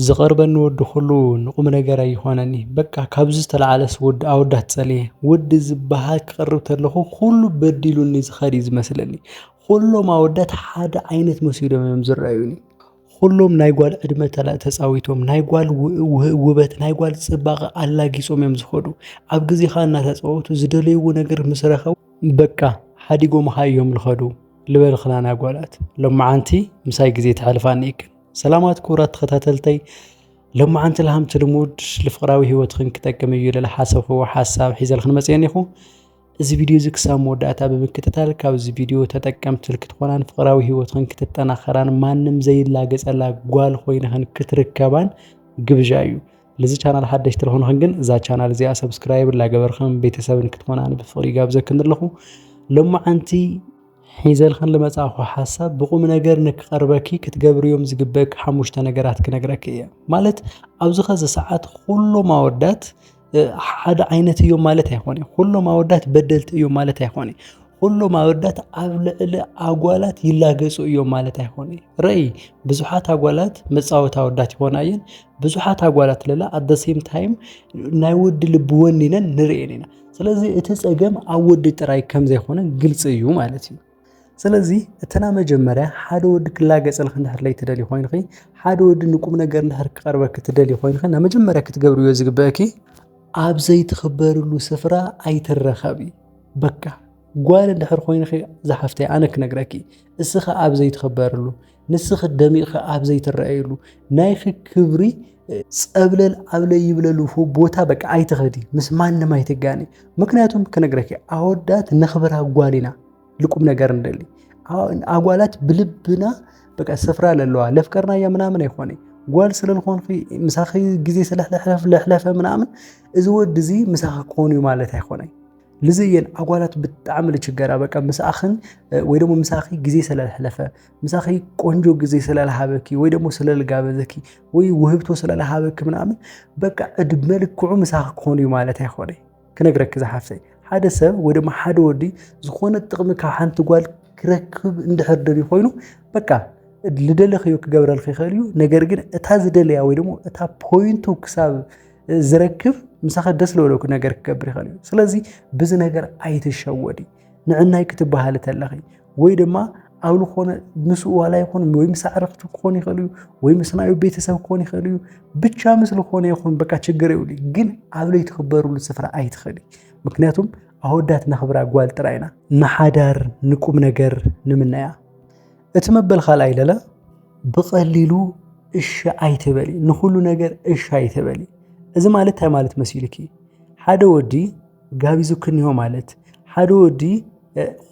ዝቀርበኒ ወዲ ኩሉ ንቁምነገር ኣይኾነኒ በቃ ካብዚ ዝተላዓለስ ወዲ ኣወዳት ፀልየ ወዲ ዝባሃል ክቅርብ ተለኩ ኩሉ በዲሉኒ ዝከድ እዩ ዝመስለኒ ኩሎም ኣወዳት ሓደ ዓይነት መሲሎም እዮም ዝረኣዩኒ ኩሎም ናይ ጓል ዕድመ ተፃዊቶም ናይ ጓል ውበት ናይ ጓል ፅባቀ ኣላጊፆም እዮም ዝከዱ ኣብ ግዜካ እናተፃወቱ ዝደለይዎ ነገር ምስ ረከቡ በቃ ሓዲጎምካ እዮም ዝከዱ ልበልክናን ኣጓላት ሎማዓንቲ ምሳይ ግዜ ተሕልፋ እኒኤክን። ሰላማት ክቡራት ተኸታተልተይ ሎማዓንቲ ልሃምቲ ልሙድ ልፍቕራዊ ህይወትኽን ክጠቅም እዩ ልለ ሓሰብኽዎ ሓሳብ ሒዘልኽን መፅየን ኢኹ እዚ ቪድዮ እዚ ክሳብ መወዳእታ ብምክትታል ካብዚ ቪድዮ ተጠቀምቲ ክትኮናን ፍቕራዊ ህይወትኽን ክትጠናኸራን ማንም ዘይላገፀላ ጓል ኮይንኽን ክትርከባን ግብዣ እዩ ልዚ ቻናል ሓደሽቲ ልኾንኽን ግን እዛ ቻናል እዚኣ ሰብስክራይብ ላገበርኽን ቤተሰብን ክትኮናን ብፍቕሪ ጋብዘክን ኣለኹ ሎማዓንቲ ሒዘልክን ልመጻእኩ ሓሳብ ብቑምነገር ንክቐርበኪ ክትገብርዮም ዝግበእኪ ሓሙሽተ ነገራት ክነግረኪ እየ። ማለት ኣብዚ ኸዚ ሰዓት ኹሎም ኣወዳት ሓደ ዓይነት እዮም ማለት ኣይኮነ። ኹሎም ኣወዳት በደልቲ እዮም ማለት ኣይኮነ። ኹሎም ኣወዳት ኣብ ልዕሊ ኣጓላት ይላገጹ እዮም ማለት ኣይኮነ። ረኢ ብዙሓት ኣጓላት መጻወቲ ኣወዳት ይኾና እየን። ብዙሓት ኣጓላት ለላ ኣት ዘ ሴም ታይም ናይ ወዲ ልቢ ወኒነን ንርእየን ኢና። ስለዚ እቲ ጸገም ኣብ ወዲ ጥራይ ከም ዘይኮነ ግልጺ እዩ ማለት እዩ ስለዚ እተና መጀመርያ ሓደ ወዲ ክላገጸልኺ እንድሕር ለይ ትደሊ ኮይንኺ ሓደ ወዲ ንቁም ነገር እንድሕር ክቐርበኪ ትደሊ ኮይንኺ ናብ መጀመርያ ክትገብርዮ ዝግበአኪ ኣብ ዘይትኽበርሉ ስፍራ ኣይትረኸቢ በቃ ጓል እንድሕር ኮይንኺ ዝሓፍተይ ኣነ ክነግረኪ እስኻ ኣብ ዘይትኽበርሉ ንስኺ ደሚቕኺ ኣብ ዘይትረኣየሉ ናይኺ ክብሪ ጸብለል ዓብለይ ይብለሉ ቦታ በቃ ኣይትኸዲ ምስ ማንም ኣይትጋኒ ምክንያቱም ክነግረኪ ኣወዳት ነኽብር ኣጓል ኢና ልቁም ነገር እንደሊ ኣጓላት ብልብና በቃ ስፍራ ለለዋ ለፍቀርና እያ ምናምን ኣይኮነ ጓል ስለልኾንኺ ምሳኺ ግዜ ስለሕለሕለፍ ለሕለፈ ምናምን እዚ ወዲ እዚ ምሳኺ ክኾኑ እዩ ማለት ኣይኮነ ልዚ እየን ኣጓላት ብጣዕሚ ልችገራ በቃ ምስኣኽን ወይ ደግሞ ምሳኺ ግዜ ስለልሕለፈ ምሳኺ ቆንጆ ጊዜ ስለልሃበኪ ወይ ደግሞ ስለልጋበዘኪ ወይ ውህብቶ ስለልሃበኪ ምናምን በቃ ዕድመ ልክዑ ምሳኺ ክኾኑ እዩ ማለት ኣይኮነ ክነግረኪ ዝሓፍተይ ሓደ ሰብ ወይ ድማ ሓደ ወዲ ዝኾነ ጥቕሚ ካብ ሓንቲ ጓል ክረክብ እንድሕር ደልዩ ኮይኑ በቃ ልደለኽዮ ክገብረልክ ይኽእል እዩ ነገር ግን እታ ዝደለያ ወይ ደግሞ እታ ፖይንቱ ክሳብ ዝረክብ ምሳኸ ደስ ለበለኩ ነገር ክገብር ይኽእል እዩ ስለዚ ብዚ ነገር ኣይትሸወዲ ንዕናይ ክትበሃሊ ተለኺ ወይ ድማ ኣብ ዝኾነ ምስ ዋላ ይኹን ወይ ምስ ኣዕርኽቲ ክኾን ይኽእል እዩ ወይ ምስ ናዩ ቤተሰብ ክኾን ይኽእል እዩ ብቻ ምስ ዝኾነ ይኹን በቃ ችግር ይብሉ ግን ኣብ ለይቲ ክበርሉ ስፍራ ኣይትኽእሊ ምክንያቱም ኣወዳት ነኽብራ ጓል ጥራይ ኢና ንሓዳር ንቁም ነገር ንምናያ እቲ መበል ካልኣይ ለለ ብቐሊሉ እሺ ኣይትበሊ ንኹሉ ነገር እሺ ኣይትበሊ እዚ ማለት እንታይ ማለት መሲልኪ ሓደ ወዲ ጋቢዙክኒዮ ማለት ሓደ ወዲ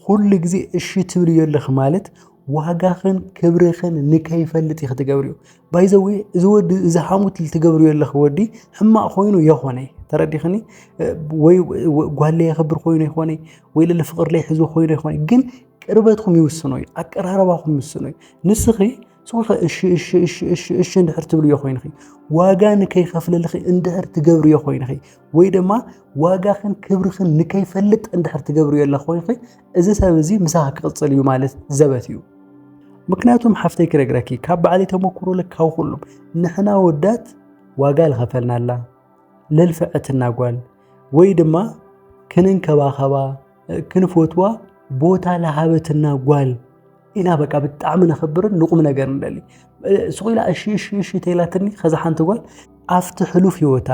ኩሉ ግዜ እሺ ትብልዮ ኣለኺ ማለት ዋጋኽን ክብርኽን ንከይፈልጥ እዩ ክትገብርዮ ባይዘዌ እዚ ወዲ እዚ ሓሙት ትገብርዮ ኣለኺ ወዲ ሕማቕ ኮይኑ የኾነ ተረዲኽኒ ወይ ጓለይ የኽብር ኮይኑ ይኾነ ወይ ልል ፍቕርለይ ሕዙ ኮይኑ ይኾነ ግን ቅርበትኩም ይውስኖ እዩ ኣቀራረባኹም ይውስኖ እዩ ንስኺ ሶፈ እሺ እሺ እሺ እሺ እሺ እንድሕር ትብልዮ ኮይንኺ ዋጋ ንከይኸፍለልኺ እንድሕር ትገብርዮ ኮይንኺ ወይ ድማ ዋጋኽን ክብርኽን ንከይፈልጥ እንድሕር ትገብርዮ ኣለ ኮይንኺ እዚ ሰብ እዚ ምሳኺ ክቕፅል እዩ ማለት ዘበት እዩ ምክንያቱም ሓፍተይ ክነግረኪ ካብ ባዕሊ ተመክሮ ልካው ኩሉም ንሕና ወዳት ዋጋ ልኸፈልናላ ለልፍዐትና ጓል ወይ ድማ ክንንከባኸባ ክንፈትዋ ቦታ ለሃበትና ጓል ኢና በቃ ብጣዕሚ ነኽብርን ንቑም ነገር ንደሊ ሱቕ ኢላ እሺ እሺ እሺ ተይላትኒ ከዛ ሓንቲ ጓል ኣብቲ ሕሉፍ ህይወታ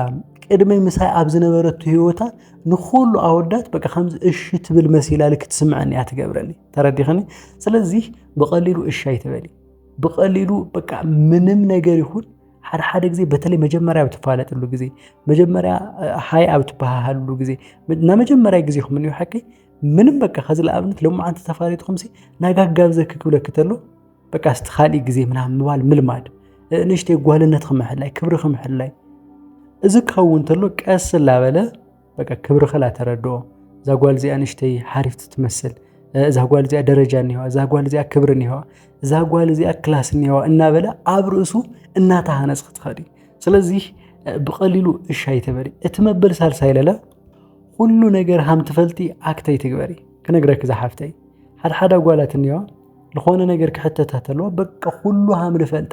ቅድሚ ምሳይ ኣብ ዝነበረቱ ህይወታ ንኩሉ ኣወዳት በቃ ከምዚ እሺ ትብል መሲላ ልክ ትስምዐኒ እያ ትገብረኒ ተረዲኸኒ ስለዚህ ብቐሊሉ እሺ ኣይትበሊ ብቐሊሉ በቃ ምንም ነገር ይኹን ሓደ ሓደ ግዜ በተለይ መጀመርያ ኣብ ትፋለጥሉ ግዜ መጀመርያ ሃይ ኣብ ትበሃሃልሉ ግዜ ናይ መጀመርያ ግዜኹም እንዮ ሓቂ ምንም በቃ ከዚ ንኣብነት ሎማዓንቲ ተፋሊጥኩም ሲ ናይ ጋጋብ ዘኪ ክብለኪ ተሎ በቃ ስቲ ካልእ ግዜ ምናም ምባል ምልማድ ንእሽተይ ጓልነት ክምሕላይ ክብሪ ክምሕላይ እዚ ክኸውን ተሎ ቀስ ላበለ በቃ ክብሪ ከላ ተረድኦ እዛ ጓል እዚኣ ንሽተይ ሓሪፍቲ ትመስል እዛ ጓል እዚኣ ደረጃ እኒዋ፣ እዛ ጓል እዚኣ ክብሪ እኒዋ፣ እዛ ጓል እዚኣ ክላስ እኒዋ እናበለ ኣብ ርእሱ እናተሃነፅ ክትኸዲ ስለዚ ብቐሊሉ እሺ ኣይትበሊ። እቲ መበል ሳልሳይ ለለ ኩሉ ነገር ሃም ትፈልጢ ኣክተይ ትግበሪ ክነግረኪ ዝሓፍተይ ሓድሓዳ ጓላት እኒዋ ዝኾነ ነገር ክሕተታ ተለዋ በቃ ኩሉ ሃም ንፈልጣ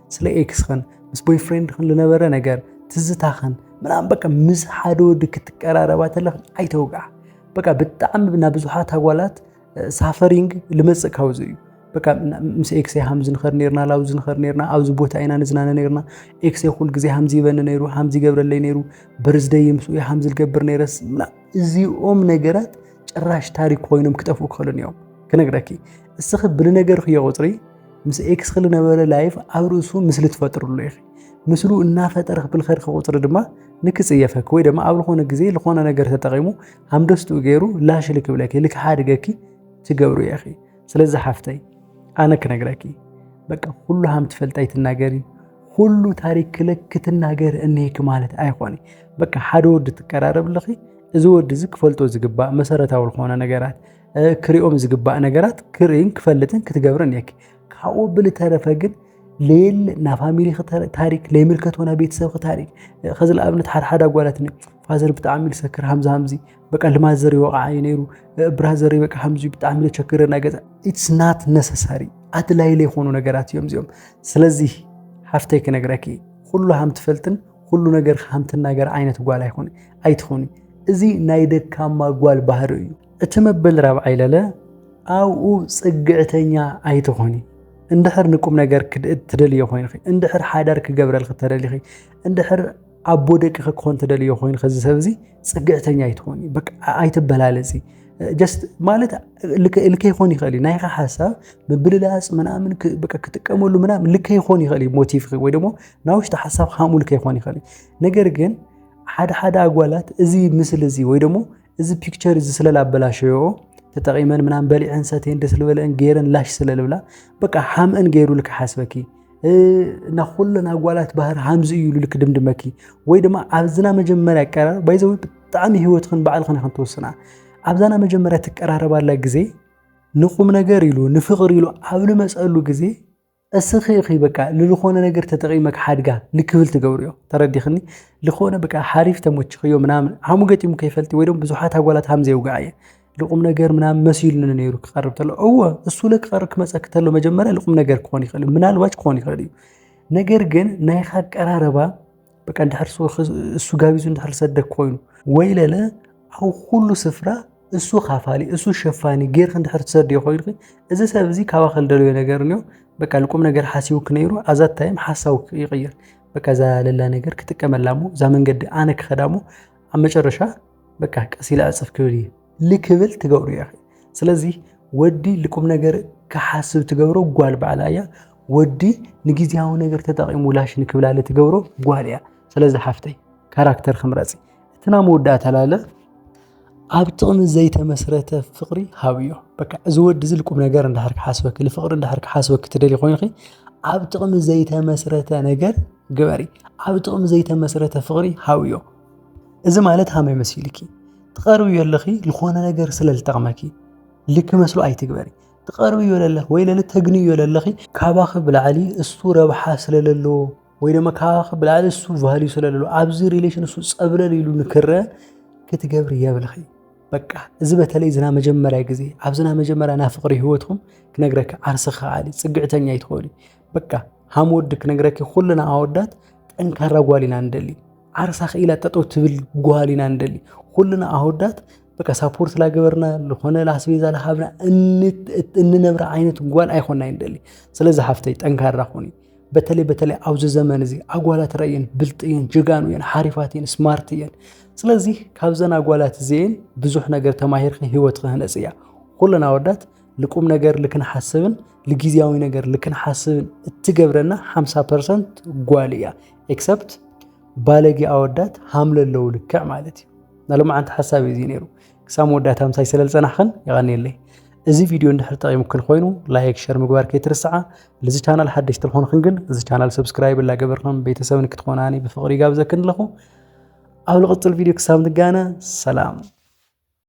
ስለ ኤክስኽን ምስ ቦይፍሬንድኽን ዝነበረ ነገር ትዝታኽን ምናምን በቃ ምስ ሓደ ወዲ ክትቀራረባ ተለኽን ኣይተውግዓ በቃ ብጣዕሚ ናብ ብዙሓት ኣጓላት ሳፈሪንግ ልመፅእ ካብዚ እዩ በቃ ምስ ኤክሴ ሃምዚ ንኸር ነርና ላብዚ ንኸር ነርና ኣብዚ ቦታ ኢና ንዝናነ ነርና ኤክሴ ኩል ግዜ ሃምዚ ይበኒ ነይሩ ሃምዚ ይገብረለይ ነይሩ በርዝደይ ምስኡ ሃምዚ ልገብር ነይረስ እዚኦም ነገራት ጭራሽ ታሪክ ኮይኖም ክጠፍኡ ክኽእሉን እዮም ክነግረኪ እስኺ ብልነገርክዮ ቁፅሪ ምስ ኤክስ ክሊ ነበረ ላይፍ ኣብ ርእሱ ምስሊ ትፈጥርሉ ኢኺ ምስሉ እናፈጠረ ክብል ከድኪ ቁፅሪ ድማ ንክፅየፈኪ ወይ ድማ ኣብ ዝኾነ ግዜ ዝኾነ ነገር ተጠቂሙ ሃምደስትኡ ገይሩ ላሽ ልክብለኪ ልክሓድገኪ ትገብሩ ኢኺ ስለዚ ሓፍተይ ኣነ ክነግረኪ በቃ ኩሉ ሃም ትፈልጣይ ትናገሪ ኩሉ ታሪክ ክለክ ክትናገር እኒሄኪ ማለት ኣይኮነ በቃ ሓደ ወዲ ትቀራረብ ኣለኺ እዚ ወዲ እዚ ክፈልጦ ዝግባእ መሰረታዊ ዝኾነ ነገራት ክሪኦም ዝግባእ ነገራት ክርእን ክፈልጥን ክትገብርን እየኪ ካብኡ ብልተረፈ ግን ሌል ናብ ፋሚሊ ታሪክ ለይምልከት ወና ቤተሰብ ታሪክ ከዚ ንኣብነት ሓድሓደ ኣጓላትኒ ፋዘር ብጣዕሚ ልሰክር ሃምዚ ሃምዚ በቃ ልማት ዘሪ ወቕዓ እዩ ነይሩ ብራ ዘሪ በቃ ሃምዚ ብጣዕሚ ልቸግረ ናይ ገዛ ኢትስ ናት ነሰሳሪ ኣድላይ ለይኮኑ ነገራት እዮም እዚኦም ስለዚ ሓፍተይ ክነግረኪ ኩሉ ሃም ትፈልጥን ኩሉ ነገር ሃም ትናገር ዓይነት ጓል ኣይኮነ ኣይትኾኒ እዚ ናይ ደካማ ጓል ባህሪ እዩ እቲ መበል ራብዓይ ለለ ኣብኡ ጽግዕተኛ ኣይትኾኒ እንድሕር ንቁም ነገር ትደልዮ ኮይንኺ እንድሕር ሓዳር ክገብረልኪ ተደሊኺ እንድሕር ኣቦ ደቅኺ ክኾን ተደልዮ ኮይንኺ እዚ ሰብ እዚ ጽግዕተኛ ኣይትኾኒ በቃ ኣይትበላለጺ ጀስት ማለት ልከ ይኾን ይኽእል እዩ ናይኻ ሓሳብ ምብልላፅ ምናምን በቃ ክጥቀመሉ ምናምን ልከ ይኾን ይኽእል እዩ ሞቲቭኺ ወይ ደግሞ ናብ ውሽጢ ሓሳብ ሃምኡ ልከ ይኾን ይኽእል እዩ ነገር ግን ሓደ ሓደ ኣጓላት እዚ ምስሊ እዚ ወይ ደግሞ እዚ ፒክቸር እዚ ስለ ላበላሸዮኦ ተጠቒመን ምናምን በሊዐን ሰትየን ደስ ዝበለአን ገይረን ላሽ ስለ ልብላ በቃ ሓምእን ገይሩ ልክ ሓስበኪ እና ኩለን ኣጓላት ባህር ሃምዚ እዩ ኢሉ ልክ ድምድመኪ ወይ ድማ ኣብዝና መጀመርያ ኣቀራርባ ባይዘዊ ብጣዕሚ ህይወትክን ባዕልክን ኢኽን ትወስና ኣብዛና መጀመርያ ትቀራረባላ ግዜ ንቁም ነገር ኢሉ ንፍቕሪ ኢሉ ኣብ ልመፀሉ ግዜ እስኺ ኢኺ በቃ ልልኾነ ነገር ተጠቒመክ ሓድጋ ልክብል ትገብርዮ ተረዲኽኒ ልኾነ በቃ ሓሪፍ ተሞችኽዮ ምናምን ሓሙ ገጢሙ ከይፈልቲ ወይ ደሞ ብዙሓት ኣጓላት ሃም ዘየውግዓ እየ ልቁም ነገር ምናምን መሲሉኒ ነይሩ ክቐርብ ተሎ እወ እሱ ለክቐርብ ክመፀክ ተሎ መጀመሪያ ልቁም ነገር ክኾን ይኽእል ምናልባች ክኾን ይኽእል እዩ ነገር ግን ናይኻ ኣቀራረባ በቃ እንድሕር እሱ ጋቢዙ እንድሕር ሰደክ ኮይኑ ወይ ለለ ኣብ ኩሉ ስፍራ እሱ ካፋሊ እሱ ሸፋኒ ጌርክ እንድሕር ትሰድዮ ኮይንኺ እዚ ሰብ እዚ ካባኸ ልደለዮ ነገር እንዮ በቃ ልቁም ነገር ሓሲቡክ ነይሩ ኣዛ ታይም ሓሳቡ ይቕይር በቃ እዛ ለላ ነገር ክጥቀመላ እሞ እዛ መንገዲ ኣነ ክኸዳ እሞ ኣብ መጨረሻ በቃ ቀስ ኢለ ኣፅፍ ክብል እዩ ልክብል ትገብሩ ኢኺ ስለዚ ወዲ ልቁም ነገር ክሓስብ ትገብሮ ጓል ባዕላ እያ ወዲ ንግዜያዊ ነገር ተጠቒሙ ላሽ ንክብላለ ትገብሮ ጓል እያ ስለዚ ሓፍተይ ካራክተር ክምረፂ እቲ ናይ መወዳእታ ላለ ኣብ ጥቕሚ ዘይተመስረተ ፍቕሪ ሃብዮ በቃ እዚ ወዲ እዚ ልቁም ነገር እንዳሕር ክሓስበኪ ንፍቕሪ እንዳሕር ክሓስበኪ ትደሊ ኮይንኺ ኣብ ጥቕሚ ዘይተመስረተ ነገር ግበሪ ኣብ ጥቕሚ ዘይተመስረተ ፍቕሪ ሃብዮ እዚ ማለት ሃመይ መሲልኪ ትቐርብዮ ኣለኺ ዝኾነ ነገር ስለ ዝጠቕመኪ ልክ መስሎ ኣይትግበሪ ትቐርብዮ ለለኺ ወይ ለለ ተግንዮ ለለኺ ካባኺ ብላዕሊ እሱ ረብሓ ስለለለዎ ወይ ድማ ካባኺ ብላዕሊ እሱ ቫልዩ ስለለለዎ ኣብዚ ሪሌሽን እሱ ፀብለል ኢሉ ንክረ ክትገብሪ የብልኺ በቃ እዚ በተለይ ዝና መጀመርያ ግዜ ኣብዝና መጀመርያ ናይ ፍቕሪ ህይወትኩም ክነግረካ ዓርስኺ ከዓሊ ፅግዕተኛ ይትኸሉ በቃ ሃም ወዲ ክነግረኪ ኩልና ኣወዳት ጠንካራ ጓል ኢና ንደሊ ዓርሳ ክኢላ ጠጠው ትብል ጓል ኢና ንደሊ ኩልና ኣወዳት በቃ ሳፖርት ላገበርና ዝኾነ ላስቤዛ ላሃብና እንነብረ ዓይነት ጓል ኣይኮና ይንደሊ ስለዚ ሓፍተይ ጠንካራ ኹኒ በተለይ በተለይ ኣብዚ ዘመን እዚ ኣጓላት ረእየን ብልጥ እየን ጀጋኑ እየን ሓሪፋት እየን ስማርት እየን ስለዚ ካብዘን ኣጓላት እዚአን ብዙሕ ነገር ተማሂርኪ ህይወት ክህነፅ እያ ኩለን ኣወዳት ልቁም ነገር ልክንሓስብን ልግዜያዊ ነገር ልክንሓስብን እትገብረና 50 ፐርሰንት ጓል እያ ኤክሰፕት ባለጌ ኣወዳት ሃምለ ኣለዉ ልክዕ ማለት እዩ ናሎማዓንቲ ሓሳብ እዩ ነይሩ ክሳብ መወዳእታ ምሳይ ስለ ዝፀናሕኽን የቐኒየለይ እዚ ቪድዮ እንድሕር ጠቂሙክን ኮይኑ ላይክ ሸር ምግባር ከይትርስዓ ልዚ ቻናል ሓደሽቲ ልኾንኽን ግን እዚ ቻናል ሰብስክራይብ ላገበርክን ቤተሰብ ንክትኾናኒ ብፍቕሪ ይጋብዘክን ኣለኹ ኣብ ልቕፅል ቪድዮ ክሳብ ንጋነ ሰላም